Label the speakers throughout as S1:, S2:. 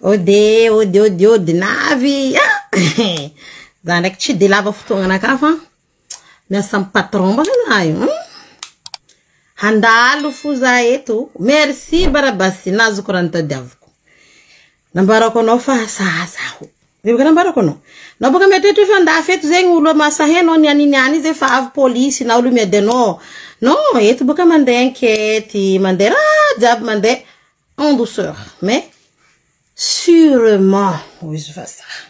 S1: ode ode ode ode navy za ndraiky tsy de lava fotoagna anakah fa miasa am patron mbaka za io hmm? handalo fo za eto merci barabasy nazoko raha nitadiaviko Nambarako anao fa sahaza aho. Zay boka nambarako anao. Nao boka mety hoe tsotra andafy eto zegny olo a mahasahy anao ny an'i niany zay fa avy polisy nao lo miady anao. Non, eto boka mandeha enquete, mandeha raha jiaby mandeha en douceur mais sûrement hoy izy vazaha.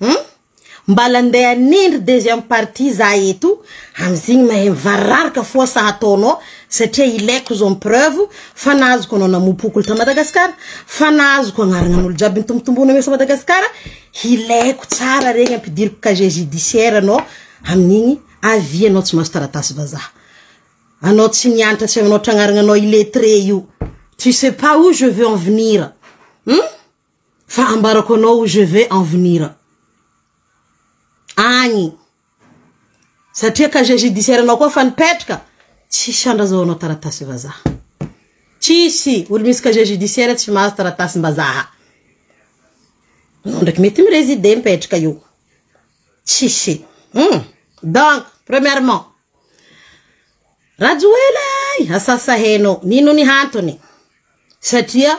S1: Hum? Mbala ndeha hanendry deuxième partie za eto amzigny mahay mivararoka foa sa ataonao satria ilaiko zao ny preuve fa nahazoko anao namopokoly ta Madagascar fa nahazoko agnaragnan'olo jiaby nitombotombona mesa Madagascar ilaiko tsara regny ampidiriko casier judiciaire anao amin'igny avia anao tsy mahazo taratasy vazaha anao tsy nianatra tsy aminao tragnaragnanao illettré io tu sais pas où je veux en venir hum? Fa ambarako anao je vais en venir agny satria casier judiciaire nao koa efa nipetraka tsisy andrazaonao taratasy vazaha tsisy olo misy casier judiciaire tsy mahazo taratasy mbazaha anao ndraiky mety mi resider mipetraka io tsisy hum donc premièrement Rajoelina asasa heno nino ny hantony satria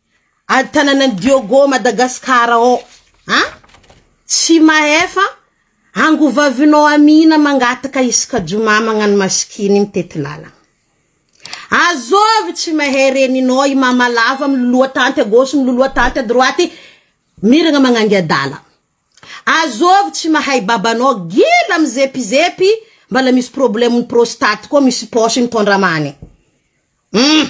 S1: Ady tananan'i Diogo Madagascar ô! A! Tsy mahefa angovavinao Amina mangataka isaka jomà magnano masikiny mitety lalagna. Azovy tsy mahay reninao i mama lava miloloha tanty à gauche miloloha tanty à droite miragna magnangy adala. Azovy tsy mahay babanao gila mizepizepy mbala misy problemon'ny prostate koa misy poche mitondra amany. Hum!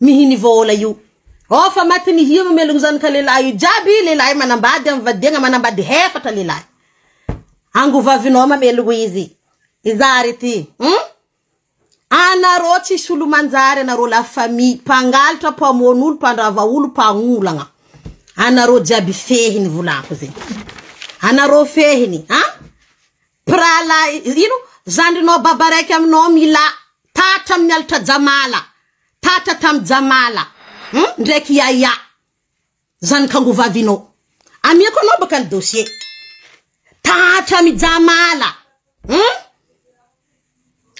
S1: Mihiny vôla io. Ôh fa maty ny hira omelogno zany ka lehilahy io jiaby lehilahy manambady am vadiagna manambady hefatra lehilahy ango vavinao mamelogno izy izary ty hum anarô tsisy olo manjary anarô la famille mpangalatra mpamono olo mpandrava olo mpagnolagna anarô jiaby fehiny volako zegny anarô fehiny a mpirahalahy ino zandrinao baba raiky aminao milà tatra amin'ny alitra jamala Tatra tam Jamala hum ndraiky Yaya zanaka angovavinao amiako anao baka ny dossier Tatra amy Jamala hum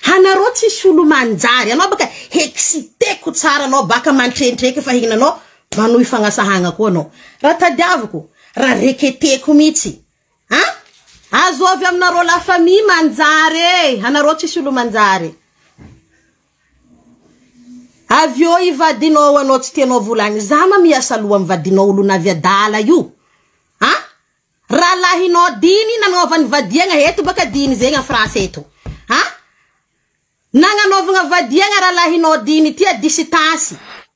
S1: hanareo tsisy olo manjary anao baka hexiteko tsara anao baka mantrentreke fa henanao manohy fagnasahagna koa anao raha tadiaviko raha reketeko mitsy an azo avy aminareo la famille manjary e anareo tsisy olo manjary. Avy eo i vadinao ao anao tsy tianao vola any za ma miasa loha am vadinao olona avy adala io a rahalahinao diny nanaovany vadiagna eto baka diny zegny a France eto a nagnanaovagna vadiagna rahalahinao diny ty a disitasy.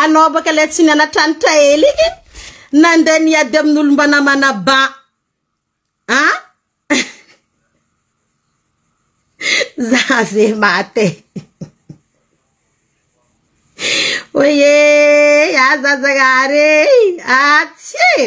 S1: Anao baka le tsy nianatranotra ela iny nandeha niady amin'olo mba namana ba a za ve maty e oiee ah za zagnahary e ah tsia e.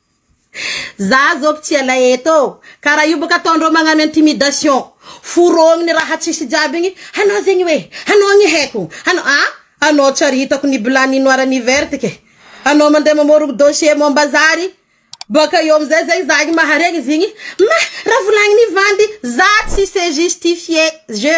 S1: Za zao mpitia lay eto ô! Kara io boka ataondreo magnano intimidation! Forogny raha tsisy jiaby igny, anao zegny hoe, anao ny haiko, anao ah! Anao tsy ary hitako ny blanc ny noir ny verte ke! Anao mandeha mamorogny dossier momba zary, boka eo amizay zegny za igny maharegny izy igny, mah! Raha volagny ny vandy, za tsy se justifier, je.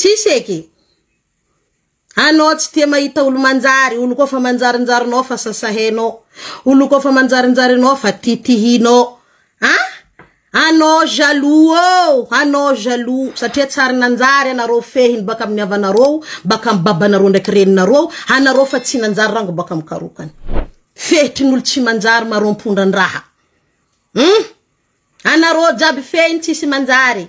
S1: Tsisy eky. Anao tsy tia mahita olo manjary, olo koa fa manjarinjarinao fa sasahenao, olo koa fa manjarinjary anao fa titihinao. An! Anao jaloux oo, anao jaloux satria tsy ary nanjary anareo fehiny baka amin'ny havanareo, baka amin'ny babanareo ndraiky reninareo, anareo fa tsy nanjary rango baka amin'ny karokany. Fehitry ny olo tsy manjary maro ampondra-ndraha. Humm! Anareo jiaby fehiny tsisy manjary.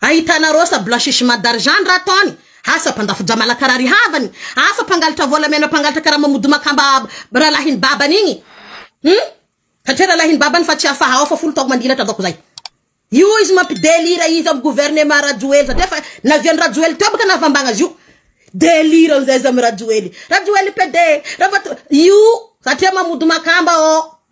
S1: Ahitana rosa blanchissement d'argent ny raha ataony, asa mpandafo-drà malakarary havany, asa mpangalatra volamena mpangalatra karama mody makamba rahalahin'ny babany igny hum satria rahalahin'ny babany fa tsy afaha ao fa folo taogno mandilatra ataoko zay io izy mampidelira izy amin'ny gouvernement rajoely satria efa navian'i rajoely teo baka nahavambagna azy io delira amizay izy amy rajoely rajoely pede ravato io satria mamody makamba ô.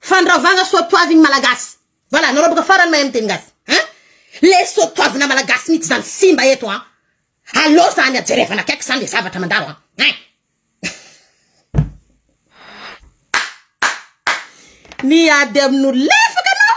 S1: Fandravagna soa toavigny malagasy. Voilà nareo boka farany mahay miteny gasy hein le soa toavina malagasy mitsy zany simba eto an aleo zany a jerevana akaiky zany le zavatra mandalo an hein miady aminolo lefaka anao.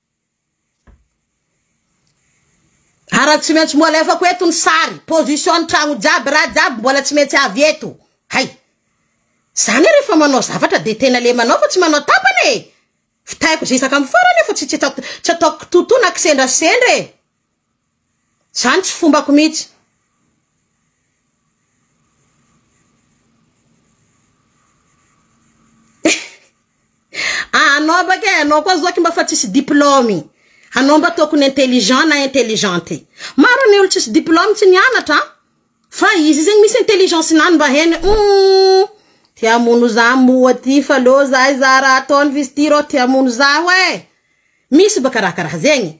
S1: Ary tsy maintsy mbola alefako eto ny sary position ny tragno jiaby raha jiaby mbola tsy maintsy avy eto hay zany hoe rehefa manao zavatra de tena le manao fa tsy manao tapany e vitaiko zezaka amin'ny farany aho fa tsy tsy ataoko tsy ataoko kitoatoa na kisendrasendra e Zany tsy fombako mihitsy. Ah anao baka e, anao koa zoky mba fa tsisy diplôme. Anao mba tokony intelligent na intelligente. Maro ny olo tsisy diplôme tsy nianatra an. Fa izy zegny misy intelligence nany mba hainy hoe humm te hamono za moa ty fa leo za hizaha raha ataony vizy ty rô te hamono zaho e. Misy baka raha karaha zegny.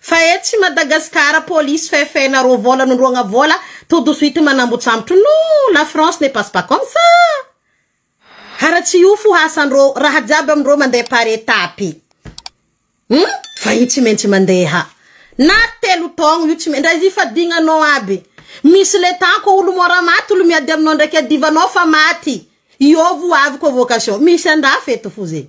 S1: Fa etsy Madagascar police fefena roa vola nondroagna vola tout de suite manambotsambotra no la France ne passe pas comme ça ara tsy io fo hasandro raha jiaby amindreo mandeha par etape hum fa io tsy maintsy mandeha na telo taogno io tsy ndra ifadignanao aby misy le temps ko olo mora maty olo miady aminao ndraiky adivanao fa maty io vo avy convocation misy andafy eto fo zegny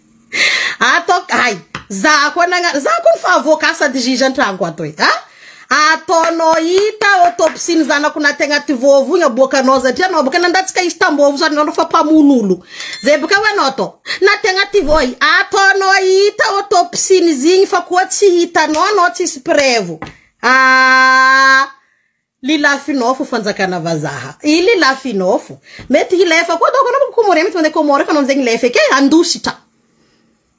S1: Atao ay za koa nagnano za koa fa avoaka asa de juge an-tragno ato e a ataonao hita autopsie ny zanako naty agnaty vovo igny aboakanao satria anao boka nandatsaka izy tam-bovo zany anao fa mpamono olo zay boka ho anao atao naty agnaty voa i ataonao hita autopsie-n'izy igny fa koa tsy hitanao anao tsisy preuve aa. Lilafinofo fanjakana vazaha i lilafinofo mety hilefa koa daoko anao comorien mety mandeha comore efa anao amizay milefa eke handositra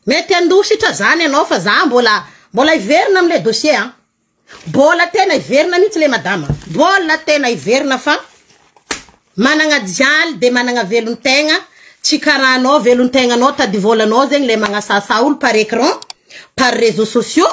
S1: mety handositra zany anao fa za mbola mbola hiverina amle dossier a bola tena hiverina mihitsy le madama bola tena hiverina fa managna jaly de managna velontegna tsy karaha anao velontegnanao tady volanao zegny le magnasasa olo par écran par réseaux sociaux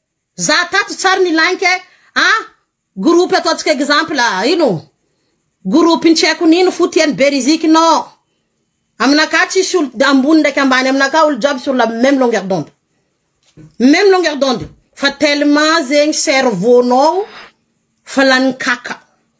S1: Za tato tsary ny like a! Groupe ataontsika exemple a! Ino? Groupe tsy haiko nino fo tiany be riziki no! Aminakahy tsisy olo ambony ndraiky ambany aminakahy olo jiaby sur la meme longueur d'onde! Meme longueur d'onde! Fa tellement zegny cerveau nao fa lany kaka!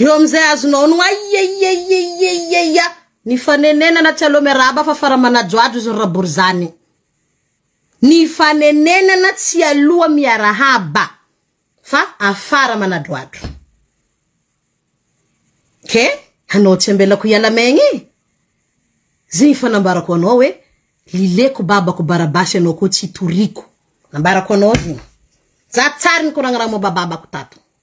S1: Eo amin'izay azonao ny aieieieieieia ny fanenenana tsy aleo miarahaba fa fara manajoajo izy rabory izany. Ny fanenenana tsy aloha miarahaba fa afara manadroadro. Ke hanao tsy ambelako hiala maigny e. Zay ny fanambarako anao hoe lileko babako barabasy anao koa tsy toriko. Nambarako anao zigny. Za tsary nikoragna raha momba babako tato.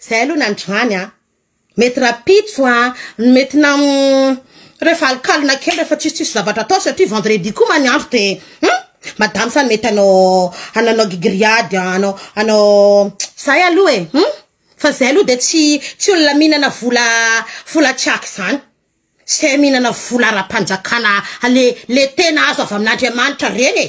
S1: Zay aloha nandroany an! Mety rapitso an! Mety nam rehefa alokalona kely rehefa tsisy tsisy zavatra atao satria vendredi koa ma ny andro de hum! Madame sa mety hanao hananao gigriade an! Hanao hanao zay aloha e! Hum! Fa zay aloha de tsy tsy olona mihinana vola vola tsy aky zany! Zay mihinana vola ara-panjakana le le tena azo avy amin'Andriamanitra reny e!